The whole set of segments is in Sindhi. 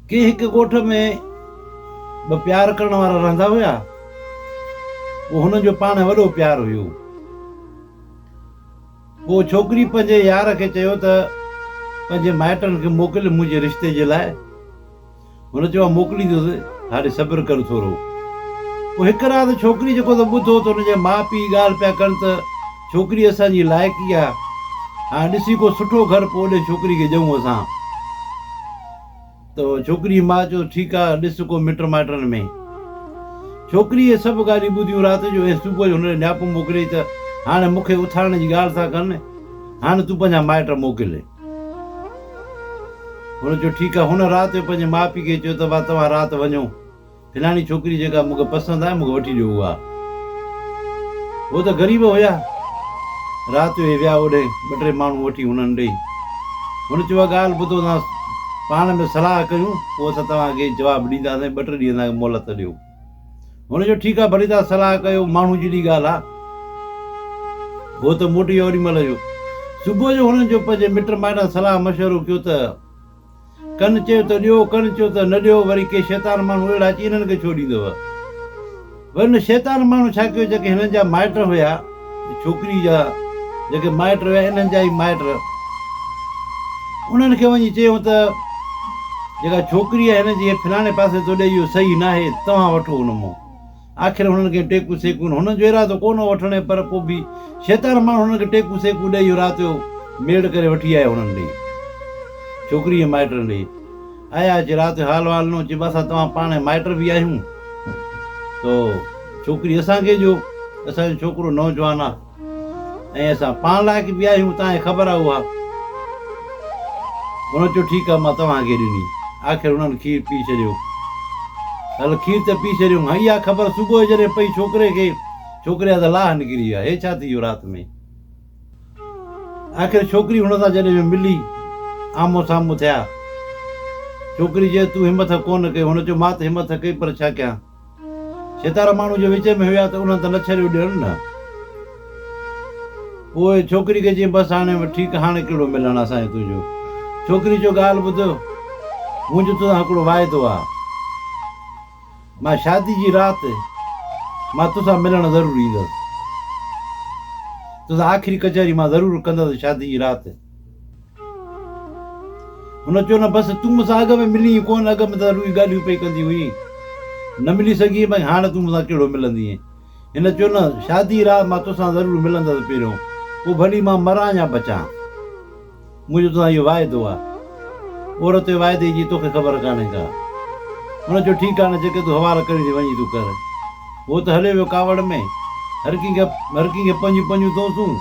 ڪي هڪ ڳوٺ ۾ ٻه پيار ڪرڻ وارا رهندا هيا. پوء هنن جو پاڻ وڏو پيار هيو. پوء ڇوڪري پنهنجي يار کي چيو ته پنهنجي مائٽن کي موڪل منهنجي رشتي جي لاء. هن چيو ها موڪليندس هاڻي صبر ڪر ٿورو. پوء هڪ رات ڇوڪري جيڪو ته ٻڌو ته هن جا ماء پيء ڳالهه پيا ڪن ته. ڇوڪري اسان جي لائقي آ هاڻ ڏسي ڪو سٺو گهر پوء اوڏي ڇوڪري کي ڏيون اسان ته ڇوڪري جي ماء چيو ٺيڪ آ ڏس ڪو مٽ مائٽن ۾ ڇوڪري اهي سڀ ڳالهيون ٻڌيون رات جو ۽ صبح جو هن ڏي نياپو موڪليائين ته هاڻ مون کي اٿارڻ جي ڳالهه ٿا ڪن هاڻ تون پنهنجا مائٽ موڪل هن چيو ٺيڪ آ هن رات جو پنهنجي ماء پيء کي چيو ته ڀا توهان رات وڃو فلاڻي ڇوڪري جيڪا مونکي پسند آهي مونکي وٺي ڏيو اها هو ته غريب هيا رات جو هي ويا اوڏهين ٻه ٽي ماڻهو وٺي هنن ڏئي هن چيو اها ڳالهه ٻڌو اسان پاڻ ۾ صلاح ڪيون پوء اسان توهان کي جواب ڏينداسين ٻه ٽي ڏينهن اسان کي مهلت ڏيو هن چيو ٺيڪ آهي ڀلي توهان صلاح ڪيو ماڻهو جيڏي ڳالهه آهي هو ته موٽي ويو اوڏي مهل جو صبح جو هنن جو پنهنجي مٽ مائٽن صلاح مشورو ڪيو ته ڪن چيو ته ڏيو ڪن چيو ته نه ڏيو وري ڪي شيطان ماڻهو اهڙا اچي هنن کي ڇو ڏيندو هئا وري ان شيطان ماڻهو ڇا ڪيو جيڪي هنن جا مائٽ هيا ڇوڪري جا جيڪي مائٽ هيا انهن جا ئي مائٽ انهن کي وڃي چيو ته جيڪا ڇوڪري آهي هن جي فلاڻي پاسي تو ڏي اهو صحيح ناهي توهان وٺو ان مون آخر هنن کي ٽيڪون سيڪون هنن جو ارادو ڪونه هو وٺڻ ۽ پر پوء به شيطان ماڻهن هنن کي ٽيڪون سيڪون ڏئي اهو رات جو ميڙ ڪري وٺي آيو هنن ڏي ڇوڪري ۽ مائٽن ڏي آيا اچي رات جو حال وال ڏنو چي با اسان توهان پاڻ مائٽ به آهيون تو ڇوڪري اسان کي جو اسان جو ڇوڪرو نوجوان آهي ۽ اسان پاڻ لاء ڪي بي آهيون تانهي خبر آ اها. هن چيو ٺيڪ آ مان توهان کي ڏني. آخر هنن کير پي ڇڏيو. هل کير ته پي ڇڏيون هئي اها خبر صبح جو جڏهن پئي ڇوڪري کي ڇوڪري جا ته لاهه نڪري ويا هي ڇا ٿي ويو رات ۾. آخر ڇوڪري هن سان جڏهن جو ملي آمهون سامهون ٿيا. ڇوڪري چيس تون همٿ ڪونه ڪئي هن چيو مان ته همٿ ڪئي پر ڇا ڪيان. ستارا ماڻهو جي وچ ۾ هيا ته انهن ته نه ڇريو ڏيڻ نه. پوء ڇوڪري کي چيائين، بس هاڻي ٺيڪ هاڻي ڪهڙو ملڻ اسان جو تنهنجو. ڇوڪري چيو ڳالهه ٻڌ منهنجو توسان هڪڙو واعدو آ. مان شادي جي رات مان توسان ملڻ ضرور ايندس. توسان آخري ڪچهري مان ضرور ڪندس شادي جي رات. هن چيو، نه بس تون مون سان اڳ ۾ ملين ئي ڪونه، اڳ ۾ ته رڳو ئي ڳالهيون پئي ڪندي هئين، نه ملي سگهين ۽ هاڻ تون مون سان ڪهڙو ملندينء؟ هن چيو، نه شاديء رات مان توسان ضرور ملندس پهريون، پوء ڀلي مان مران يا بچان. منهنجو توسان اهو واعدو آهي. عورت جي واعدي جي توکي خبر ڪانهي ڪا. هن چيو، ٺيڪ آهي نه جيڪي تون حوال ڪرين ٿي وڃي تون ڪر. هو ته هليو ويو ڪاوڙ ۾، هر ڪنهن کي هر ڪنهن کي پنهنجون پنهنجون توسون.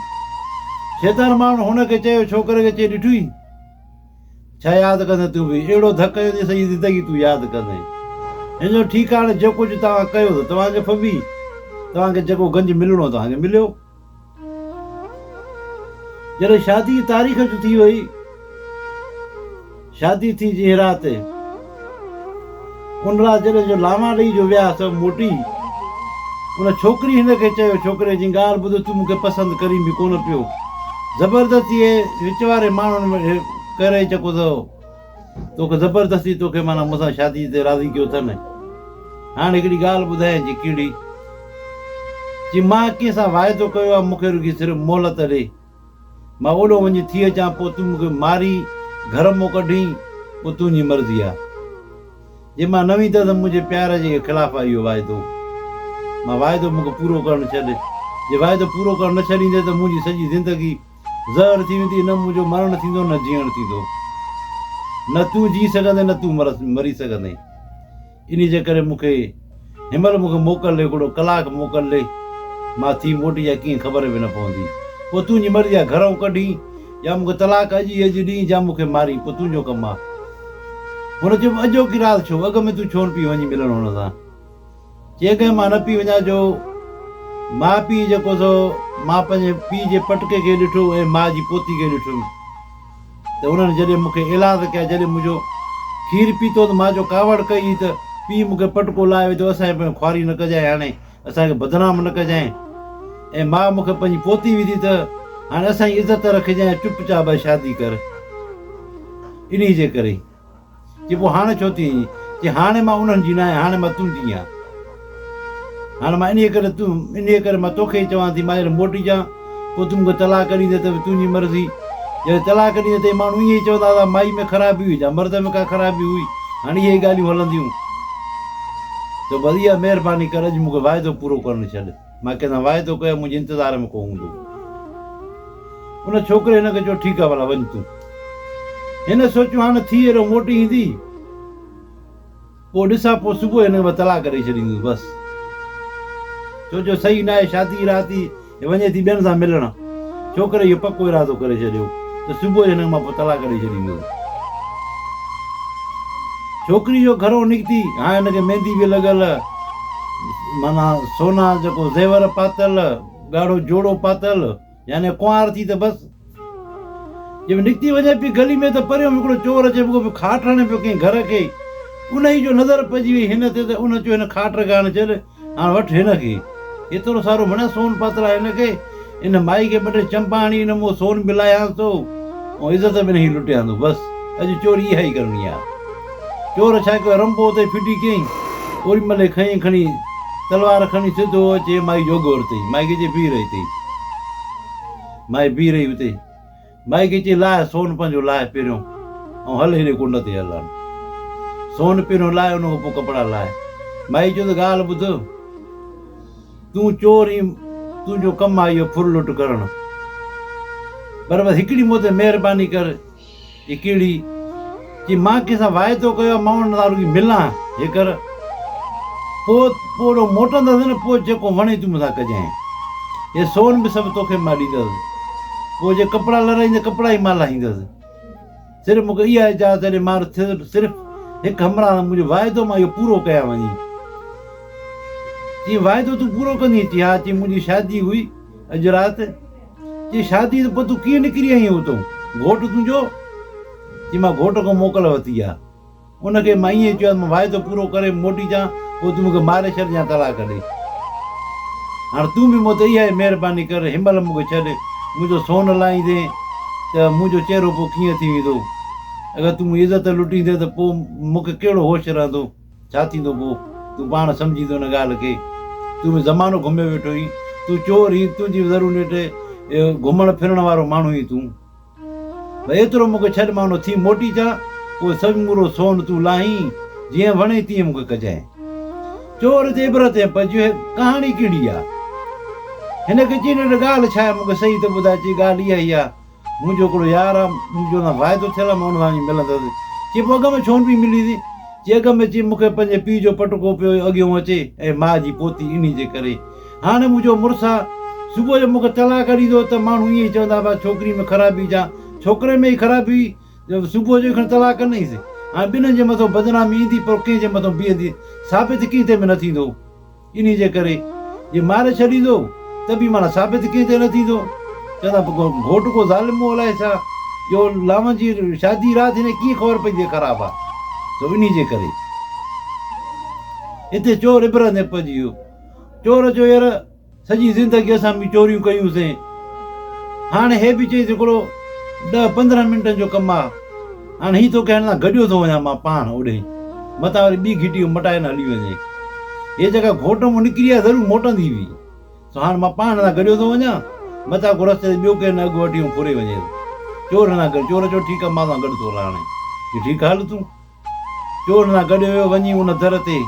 شيطان ماڻهن هن کي چيو، ڇوڪري کي چئي ڏٺوئي؟ ڇا ياد ڪندين تون به؟ اهڙو ڌڪ هنيو جو سڄي زندگي تون ياد ڪندين. هن چيو، ٺيڪ آهي هاڻي جيڪو ڪجهه توهان ڪيو ته توهان کي ڦٻي توهان کي جيڪو گنج ملڻو توهان کي مليو. جڏهن شادي جي تاريخ اچ ٿي وئي، شادي ٿي جنهن رات، ان رات جڏهن جو لاما ڏئي جو ويا سو موٽي، ان ڇوڪري هن کي چيو، ڇوڪري جي ڳالهه ٻڌ تون مون کي پسند ڪرين به ڪونه پيو، زبردستيء وچ واري ماڻهن ڪري چڪو اٿئو. توکي زبردستي توکي معنيٰ مون سان شادي تي راضي ڪيو اٿن. هاڻ هڪڙي ڳالهه ٻڌايانء چي ڪهڙي؟ چي مان ڪنهن سان واعدو ڪيو آهي مون کي رڳي صرف مهلت ڏي. مان اوڏهون وڃي ٿي اچان پوء تون مون کي ماري گهر مون ڪڍين اهو تنهنجي مرضي آهي. جي مان نه ويندس ته منهنجي پيار جي خلاف آهي اهو واعدو. مان واعدو مون کي پورو ڪرڻ ڇڏ. جي واعدو پورو ڪرڻ نه ڇڏيندين ته منهنجي سڄي زندگي زهر ٿي ويندي، نه منهنجو مرڻ ٿيندو نه جيئڻ ٿيندو. نه تون جي سگهندين نه تون مري سگهندين. انهيء جي ڪري مون کي هن مهل مون کي موڪل ڏي هڪڙو ڪلاڪ موڪل ڏي. مان ٿي موٽي يا ڪيئن خبر به نه پوندي. پوء تنهنجي مرضي آهي گهرئون ڪڍين يا مون کي طلاق اڄ ئي اڄ ڏين يا مون کي مارين پوء تنهنجو ڪم آهي. هن چيو اڄوڪي رات ڇو؟ اڳ ۾ تون ڇونه پئي وڃين ملڻ هن سان؟ جيڪڏهن مان نه پئي وڃان جو ماء پيء جيڪو سو مان پنهنجي پيء جي پٽڪي کي ڏٺو ۽ ماء جي پوتي کي ڏٺم ته انهن جڏهن مون کي ايلاز ڪيا جڏهن منهنجو کير پيتو ته مان جو ڪاوڙ ڪئي هئي ته پيء مون کي پٽڪو لاهي ويندو اسان جي پويان خواري نه ڪجانء هاڻي اسان کي بدنام نه ڪجانء ۽ ماء مون کي پنهنجي پوتي وڌي ته هاڻي اسان جي عزت رکجانء چپ چاپ شادي ڪر انهي جي ڪري چي پوء هاڻ ڇو ٿي ايئن؟ چي هاڻ مان انهن جي ناهي، هاڻ مان تون جي آهين. هاڻ مان انهيء ڪري تون، انهيء ڪري مان توکي ئي چوان ٿي، مائر موٽي جان، پوء تون مون کي طلاق ڏيندين ته به تنهنجي مرضي. جڏهن طلاق ڏيندين ته اهي ماڻهو ائين ئي چوندا هئا، مائي ۾ خرابي هئي جا مرد ۾ ڪا خرابي هئي، هاڻ اهي ئي ڳالهيون هلنديون. تو بس اها مهرباني ڪر، اڄ مون کي واعدو پورو ڪرڻ ڇڏ. مان ڪنھن سان واعدو ڪيو آھي منھنجي انتظار ۾ ڪو ھوندو. ان ڇوڪري ھن کي چيو ٺيڪ آھي ڀلا وڃ تون. ھن سوچيو ھاڻ ٿي اھڙو موٽي ايندي پوء ڏسان پوء صبح ھن کي مان طلاق ڏئي ڇڏيندس بس. سوچيو صحيح ناھي شادي جي رات ھي ھي وڃي ٿي ٻين سان ملڻ. ڇوڪري اهو پڪو ارادو ڪري ڇڏيو ته صبح جو هن مان پوء طلاق ڏئي ڇڏيندو. ڇوڪري جو گهرو نڪتي هاڻ هن کي ميندي به لڳل، معنيٰ سونا جيڪو زيور پاتل، ڳاڙهو جوڙو پاتل، يعني ڪنوار ٿي ته بس. جي به نڪتي وڃي پئي گلي ۾ ته پريون به هڪڙو چور اچي رڳو به کاٽ هڻي پيو ڪنهن گهر کي، انهيء جو نظر پئجي وئي هن تي ته ان چيو هن کاٽ رڳاڻ ڇڏ، هاڻ وٺ هن کي. ايترو سارو مڙس سون پاتل آهي هن کي. ان مائي کي ٻه ٽي چمپا هڻي هن منهن سون به لاهيانس ٿو ۽ عزت به هن جي لٽيان ٿو. بس اڄ چوري اها ئي ڪرڻي آهي. چور ڇا ڪيو رنڀو اتي ڦٽي ڪيئي. اوري مهل ئي کنئي کڻي تلوار کڻي سڌو اچي مائي جو اگهور تئي. مائي کي چئي بيهه رهي تئي. مائي بيهه رهي اتي. مائيڪي چي لاهه سون پنهنجو لاهه پيريون ۽ هل هيڏي ڪنڊ تي هل هل. سون پيريون لاهي ان کان پوء ڪپڙا لاهي. مائي چيو ته ڳالهه ٻڌ تون چور هين تنهنجو ڪم آهي اهو ڦر لٽ ڪرڻ پر بس هڪڙي مون تي مهرباني ڪر هي ڪهڙي جي مان ڪنهن سان واعدو ڪيو آهي، مان ان سان رڳي ملان جيڪر پوء پوڙهو موٽندس نه، پوء جيڪو وڻين تون مون سان ڪجانء. اهي سون به سڀ توکي مان ڏيندس. پوء جي ڪپڙا لرائين ته ڪپڙا ئي مان لاهيندس. صرف مون کي اها اجازت ڏي، مان صرف هڪ همراهه سان منهنجو واعدو مان اهو پورو ڪيان وڃين. چيائين، واعدو تون پورو ڪندينء؟ چيائين، ها. چيائين، منهنجي شادي هئي اڄ رات. چي شاديء تون پوء تون ڪيئن نڪري آئينء اتون؟ گهوٽ تنهنجو؟ چي مان گهوٽ کان موڪل ورتي آ. ان کي مان ائين چيو آ ته مان واعدو پورو ڪري موٽي اچان پوء تون مون کي ماري ڇڏ يا طلاق ڏي. هاڻ تون به مون تي اها ئي مهرباني ڪر هن مهل مون کي ڇڏ. منهنجو سون لاهيندين ته منهنجو چهرو پوء ڪيئن ٿي ويندو؟ اگر تون منهنجي عزت لٽيندين ته پوء مون کي ڪهڙو هوش رهندو؟ ڇا ٿيندو پوء؟ تون پاڻ سمجهيندو ان ڳالهه کي. تون به زمانو گهميو ويٺو هين. تون چور هين. تنهنجي ضرور نيٺ اهو گهمڻ ڦرڻ وارو ماڻهو هين تون. پر ايترو مون کي ڇڏ مان ان ٿي موٽي اچان. پوء سمورو سون تون لاهين. جيئن وڻين تيئن مون کي ڪجانء. چور جي عبرت ۽ پجهه ڪهاڻي ڪهڙي آ؟ هن کي چينڊ ڳالهه ڇا آهي مون کي صحيح ته ٻڌاء چي ڳالهه اها ئي آ. منهنجو هڪڙو يار آ، مون جو سان واعدو ٿيل آ، مان ان سان وڃي ملندس. چي پوء اڳ ۾ ڇو نه پئي مليسين؟ چي اڳ ۾ چي مون کي پنهنجي پيء جو پٽڪو پيو اڳيون اچي ۽ ماء جي پوتي انهي جي ڪري. هاڻي مون جو مڙس آ، صبح جو مون کي طلاق ڏيندو ته ماڻهو ائين ئي چوندا بس ڇوڪري ۾ خرابي جا ڇوڪري ۾ ئي خرابي هئي جو صبح جو ئي کڻي طلاق ڪنئيس. هاڻي ٻنهي جي مٿو بدنامي ايندي پر ڪنهن جي مٿو بيهندي ثابت ڪنهن تي به نه ٿيندو. انهيء جي ڪري جي ماري ڇڏيندو ته به معنيٰ ثابت ڪنهن تي نه ٿيندو. چون ٿا گهوٽ ڪو ظالم مون الائي ڇا جو لاون جي شادي رات هن کي ڪيئن خبر پئي ته خراب آ سو انهيء جي ڪري هتي چور عبرت ۾ پئجي ويو. چور چيو ير سڄي زندگي اسان به چوريون ڪيون سين هاڻي هي به چئي ته هڪڙو ڏهه پندرهن منٽن جو ڪم آ. هاڻ هي تو ڪهڙن سان گڏيو ٿو وڃان مان پاڻ اوڏهين متان وري ٻي گهٽي به مٽائي نه هلي وڃي هي جيڪا گهوٽ مون نڪري آهي ضرور موٽندي به سو هاڻ مان پاڻ هن سان گڏيو ٿو وڃان متان ڪو رستي تي ٻيو ڪير نه اڳ وٺي ۽ ڦري وڃيس چور هن سان گڏ چور چيو ٺيڪ آهي مان سان گڏ ٿو رهان چي ٺيڪ آهي هل تون چور هن سان گڏ ويو وڃي ان در تي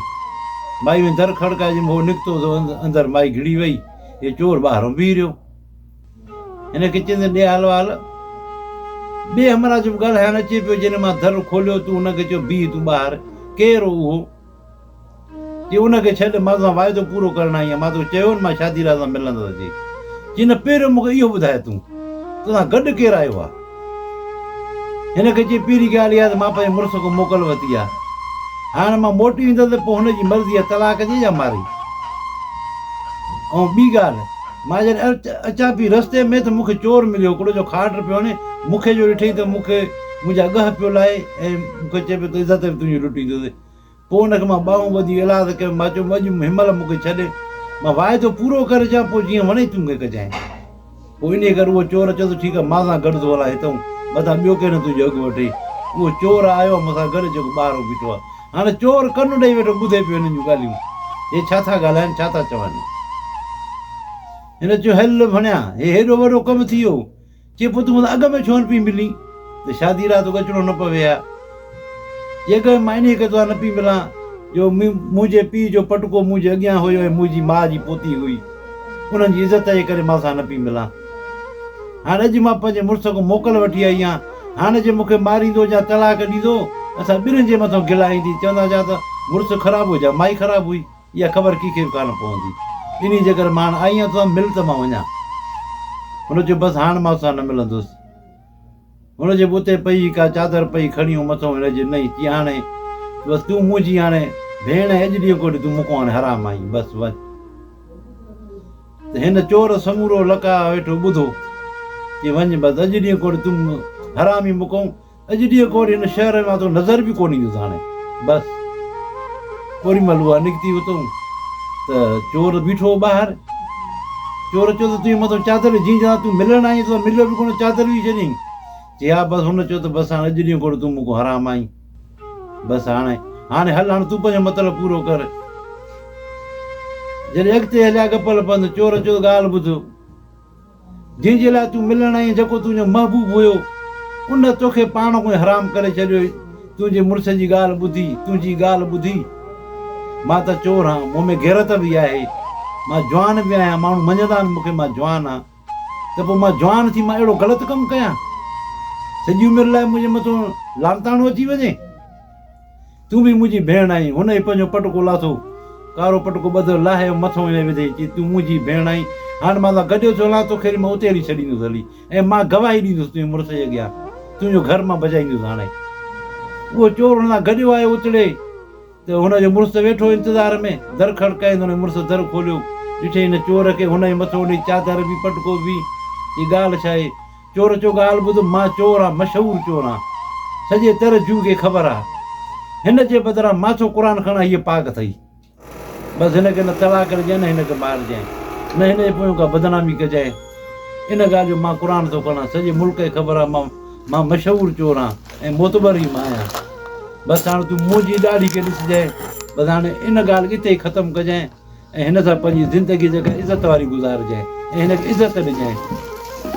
مائي وڃي در کڙڪائي جنهن مهل هو نڪتو سو اندر مائي گهڙي وئي هي چور ٻاهران بيهي رهيو هن کي چيندين ڏي حال وحال. ٻئي همراهه جو به ڳالهائڻ اچي پيو، جنهن مان در کوليو تون ان کي چئو بيهه تون ٻاهر، ڪير هو اهو؟ چي ان کي ڇڏ، مان توسان واعدو پورو ڪرڻ آئي آهيان، مان توکي چيو هو نه مان شادي لاء توسان ملندس اچي. چي نه پهريون مون کي اهو ٻڌاء تون توسان گڏ ڪير آيو آهي؟ هن کي چئي پهرين ڳالهه اها ته مان پنهنجي مڙس کان موڪل ورتي آهي. هاڻ مان موٽي ويندس ته پوء هن جي مرضي آهي طلاق ڏي يا ماري. ۽ ٻي ڳالهه مان جڏهن اچان پئي رستي ۾ ته مون کي چور مليو هڪڙو جو کاٽ پيو هڻي مون کي جو ڏٺئي ته مون کي منهنجا ڳهه پيو لاهي ۽ مون کي چئي پيو ته عزت به تنهنجي لٽيندو. پوء ان کي مان ٻانهون ٻڌي ايلاز ڪيم، مان چيم اڄ هن مهل مون کي ڇڏي، مان واعدو پورو ڪري اچان، پوء جيئن وڻي تون کين ڪجانء. پوء انهيء ڪري اهو چور چيو ته ٺيڪ آهي، مان سان گڏ ٿو هلان، هتئون مٿان ٻيو ڪير نه تنهنجو اگهه وٺي. اهو چور آيو آهي مون سان گڏ، جيڪو ٻاهرئون بيٺو آهي. هاڻي چور ڪن ڏيئي ويٺو، ٻڌي پيو هنن جون ڳالهيون. هي ڇا ٿا ڳالهائين، ڇا ٿا چون. هن چيو هل ڀڻيا، هي هيڏو وڏو ڪم ٿي ويو. چي پوء تون اڳ ۾ ڇو نه پئي ملين ته شادي لاء توکي اچڻو نه پوي ها. جيڪڏهن مان انهيء ڪري توکان نه پئي ملان جو منهنجي پيء جو پٽڪو منهنجي اڳيان هيو ۽ منهنجي ماء جي پوتي هئي. انهن جي عزت جي ڪري مان توکان نه پئي ملان. هاڻ اڄ مان پنهنجي مڙس کان موڪل وٺي آئي آهيان. هاڻ جي مون کي ماريندو يا طلاق ڏيندو، اسان ٻنهي جي مٿان گلا ايندي، چونداسين ها ته مڙس خراب هو يا مائي خراب هئي. اها خبر ڪنهن کي به ڪانه پوندي. ٻنهي جيڪر مان هاڻ آئين يا توسان مل ته مان وڃان. هن چيو، بس هاڻ مان توسان نه ملندس. هن جي بوتي پئي ڪا چادر پئي کڻي هو مٿو هڻي چيو، نئين چي هاڻي بس تون منهنجي هاڻي ڀيڻ ۽ اڄ ڏينهن کوٽي تون مونکون هاڻي حرام آهين بس وڃ. ته هن چور سمورو لقاء ويٺو ٻڌو. چي وڃ بس اڄ ڏينهن کوٽي تون حرام ئي مونکون. اڄ ڏينهن کان وري هن شهر ۾ اٿو نظر به ڪونه ايندس هاڻي بس اوري مهل اها نڪتي وتون ته چور بيٺو هو ٻاهر چور چيو ته تنهنجي مٿو چادر جنهن جا تون ملڻ آئين تون مليو به ڪونه چادر وجهي ڇڏيائين چي ها بس هن چيو ته بس هاڻي اڄ ڏينهن کان تون مون کان حرام آئين بس هاڻي هاڻي هل هاڻي تون پنهنجو مطلب پورو ڪر جڏهن اڳتي هليا گپل پنڌ چور چيو ڳالهه ٻڌ جنهن جي لاء تون ملڻ آئين جيڪو تنهنجو محبوب هيو ان توکي پاڻ کان ئي حرام ڪري ڇڏيو هي تنهنجي مڙس جي ڳالهه ٻڌي تنهنجي ڳالهه ٻڌي مان ته چور هان مون ۾ غيرت به آهي مان جوان به آهيان ماڻهو مڃيندا آهن مون کي مان جوان هان ته پوء مان جوان ٿي مان اهڙو غلط ڪم ڪيان سڄي عمر لاء منهنجي مٿو لعنتاڻو اچي وڃي تون به منهنجي ڀيڻ آهين. هن هي پنهنجو پٽڪو لاٿو. ڪارو پٽڪو ٻڌل لاهي ۽ مٿو هنئي وڌي چيو، تون منهنجي ڀيڻ آهين. هاڻ مان تان گڏيو ٿيو هلان، توکي هلي مان اتي هلي ڇڏيندس هلي ۽ مان گواهي ڏيندس تنهنجي مڙس جي اڳيان. تنهنجو گهر مان بجائيندس هاڻي. اهو چور هن سان گڏيو آيو اتڙي ته هن جو مڙس ته ويٺو انتظار ۾. در کڙڪائين ته هن جي مڙس در کوليو. ڏٺئي هن چور کي هنئي مٿو هنئي چادر به پٽڪو به. هي ڳالهه ڇا آهي؟ چور چو ڳالهه ٻڌ مان چور آ مشهور چور آ سڄي تر جوء کي خبر آ هن جي بدران مان ٿو قرآن کڻان هيء پاڪ اٿئي بس هن کي نه طلاق ڏجانء نه هن کي مارجانء نه هن جي پويان ڪا بدنامي ڪجانء ان ڳالهه جو مان قرآن ٿو کڻان سڄي ملڪ کي خبر آ مان مان مشهور چور آ ۽ معتبر ئي مان آهيان بس هاڻ تون منهنجي ڏاڙهي کي ڏسجانء بس هاڻ ان ڳالهه کي اتي ئي ختم ڪجانء. ۽ هن سان پنهنجي زندگي جيڪا عزت واري گذارجانء ۽ هن کي عزت ڏجانء.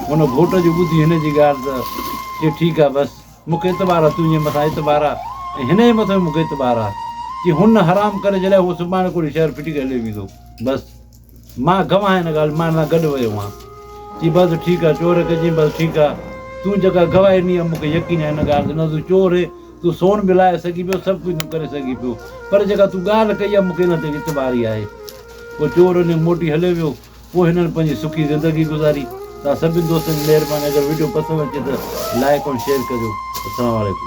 هن گهوٽ جو ٻڌي هن جي ڳالهه ته چي ٺيڪ آ بس مون کي اعتبار آ تنهنجي مٿان اعتبار آ ۽ هن جي مٿان به مون کي اعتبار آ چي هن نه حرام ڪري ڇڏيا هو سڀاڻي ڪوڙي شهر ڦٽي ڪري هليو ويندو بس مان گواهه آهيان هن ڳالهه مان هن سان گڏ ويو هئان چي بس ٺيڪ آ چور کي چيم بس ٺيڪ آ تون جيڪا گواهي ڏني آ مون کي يقين آ هن ڳالهه تي نه تون چور هين تون سون به لائي سگهين پيو، سڀ ڪجهه تون ڪري سگهين پيو، پر جيڪا تون ڳالهه ڪئي آهي، مون کي ان تي وت ٻاري آهي. پوء چور انهيء موٽي هليو ويو. پوء هنن پنهنجي سکي زندگي گذاري. توهان سڀني دوستن جي مهرباني. اگر وڊيو پسند اچي ته لائيڪ ۽ شيئر ڪريو. السلام عليڪم.